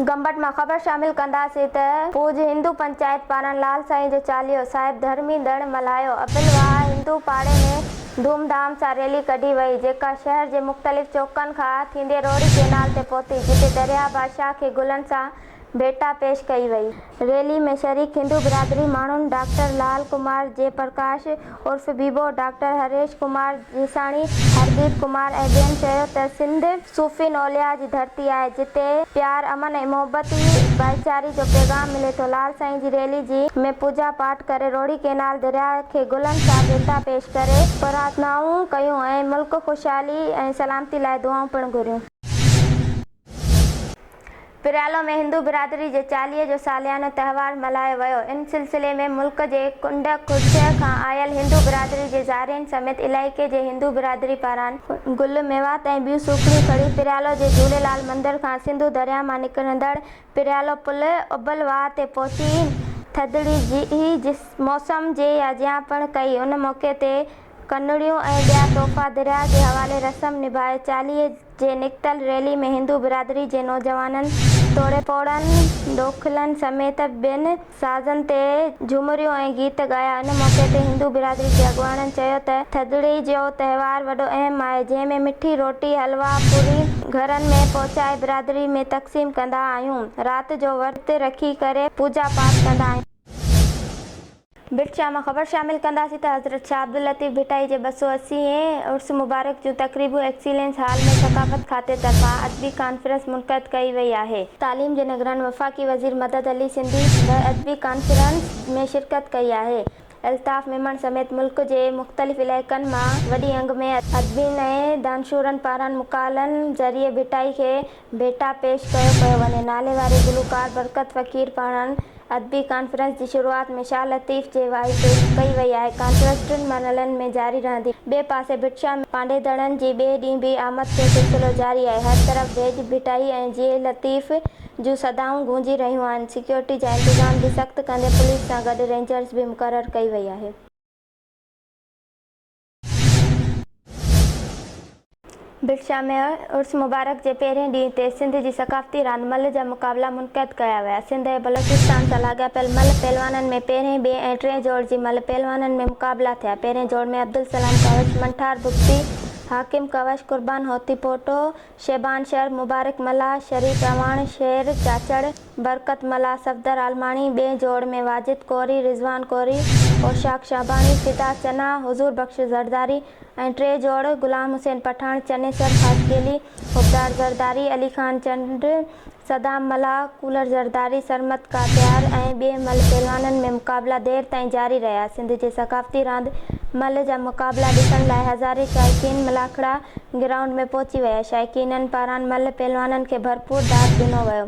گمبٽ مان خبر شامل ڪنداسين ته پوج هندو پنچائت پاران لال سائين جو چاليهو صاحب ڌرمي ڏڻ ملهايو ابل واهه هندو پاڙي ۾ ڌوم ڌام سان ريلي ڪڍي وئي جيڪا شهر جي مختلف چوڪن کان ٿيندي روهڙي ڪينال تي پهتي جتي درياهه بادشاهه کي گلن سان ڀيٽا پيش ڪئي وئي. ريلي ۾ شريڪ هندو برادري ماڻهن ڊاڪٽر لال ڪمار جي پرڪاش عرف بيبو، ڊاڪٽر هريش ڪمار جيساڻي، هرديپ ڪمار ۽ ٻين چيو ته سنڌ صوفين اولياء جي ڌرتي آهي جتي پيار، امن ۽ محبت ۽ ڀائيچاري جو پيغام ملي ٿو. لال سائين جي ريلي جي ۾ پوڄا پاٺ ڪري روهڙي ڪينال درياء کي گلن سان ڀيٽا پيش ڪري پرارٿنائون ڪيون ۽ ملڪ خوشحالي ۽ سلامتي لاء دعائون پڻ گهريون. پريالو ۾ هندو برادري جي چاليهي جو ساليانو تهوار ملهايو ويو ان سلسلي ۾ ملڪ جي ڪنڊ ڪڙڇ کان آيل هندو برادري جي زارعين سميت علائقي جي هندو برادري پاران گل ميوات ۽ ٻيون سوکڙيون کڻي پريالو جي جهوليلال مندر کان سنڌو درياهه مان نڪرندڙ پريالو پل اڀل واهه تي پهچي ٿڌڙي جي موسم جي ياجيان پڻ ڪئي ان موقعي تي ڪنڙيون ۽ ٻيا تحفا درياهه جي حوالي رسم نڀائي چاليهي جي نڪتل ريلي ۾ هندو برادري جي نوجوانن توڙي پوڙهن ڏوکلن سميت ٻين سازن تي جهومريون ۽ گيت ڳايا ان موقعي تي هندو برادري جي اڳواڻن چيو ته ٿڌڙي جو تهوار وڏو اهم آهي جنهن ۾ مٺي روٽي حلوا پوري گهرن ۾ پهچائي برادري ۾ تقسيم ڪندا آهيون رات جو ورت رکي ڪري پوڄا پاٺ ڪندا آهيون. ڀٽ شاهه مان خبر شامل ڪنداسين ته حضرت شاهه عبداللطيف ڀٽائي جي ٻه سؤ اسي هين عرس مبارڪ جون تقريبون ايڪسيلينس هال ۾ ثقافت کاتي طرفان ادبي ڪانفرنس منعقد ڪئي وئي آهي. تعليم جي نگران وفاقي وزير مدد علي سنڌي به ادبي ڪانفرنس ۾ شرڪت ڪئي آهي. الطاف ميمڻ سميت ملڪ جي مختلف علائقن مان وڏي انگ ۾ ادبين ۽ دانشورن پاران مقالن ذريعي ڀٽائي کي ڀيٽا پيش ڪيو پيو وڃي. ناليواري گلوڪار برڪت فقير پاران ادبي ڪانفرنس جي شروعات ۾ شاهه لطيف جي وائي پيش ڪئي وئي آهي. ڪانفرنس ٽن مرحلن ۾ جاري رهندي. ٻئي پاسي ڀٽشاهه ۾ پانڊيدڙن جي ٻئي ڏينهن به آمد جو سلسلو جاري آهي. هر طرف ڀيڄ ڀٽائي ۽ جيئي لطيف جون صدائون گونجي رهيون آهن. سيڪيورٽي جا انتظام به سخت ڪندي پوليس سان گڏ رينجرز به مقرر ڪئي وئي آهي. ڀٽشاهه ۾ عرس مبارڪ جي پهرين ڏينهن تي سنڌ جي ثقافتي راند ملهه جا مقابلا منعقد ڪيا ويا. سنڌ ۽ بلوچستان سان لاڳاپيل ملهه پهلوانن ۾ پهرين، ٻئي ۽ ٽئين جوڙ جي ملهه پهلوانن ۾ مقابلا ٿيا. پهرين جوڙ ۾ عبدالسلام ڪوش، منٺار بگٽي، حاڪم ڪوش، قربان هوتي پوٽو، شعبان شر، مبارڪ ملاح، شريف اعواڻ، شير چاچڙ، برڪت ملاح، صفدر عالماڻي، ٻئي جوڙ ۾ واجد ڪوري، رضوان ڪوري، اوشاق شعباڻي، فدا چنا، حضور بخش زرداري ۽ ٽئي جوڙ غلام حسين پٺاڻ، چنيسر خاصخيلي، حبدار زرداري، علي خان چنڊ، صدام ملاح، ڪولر زرداري، سرمد ڪاتيار ۽ ٻئي ملهه پهلوانن ۾ مقابلا دير تائين جاري رهيا. سنڌ جي ثقافتي راند ملهه جا مقابلا ڏسڻ لاء هزارين شائقين ملاکڙا گرائونڊ ۾ پهچي ويا. شائقينن پاران ملهه پهلوانن کي ڀرپور داد ڏنو ويو.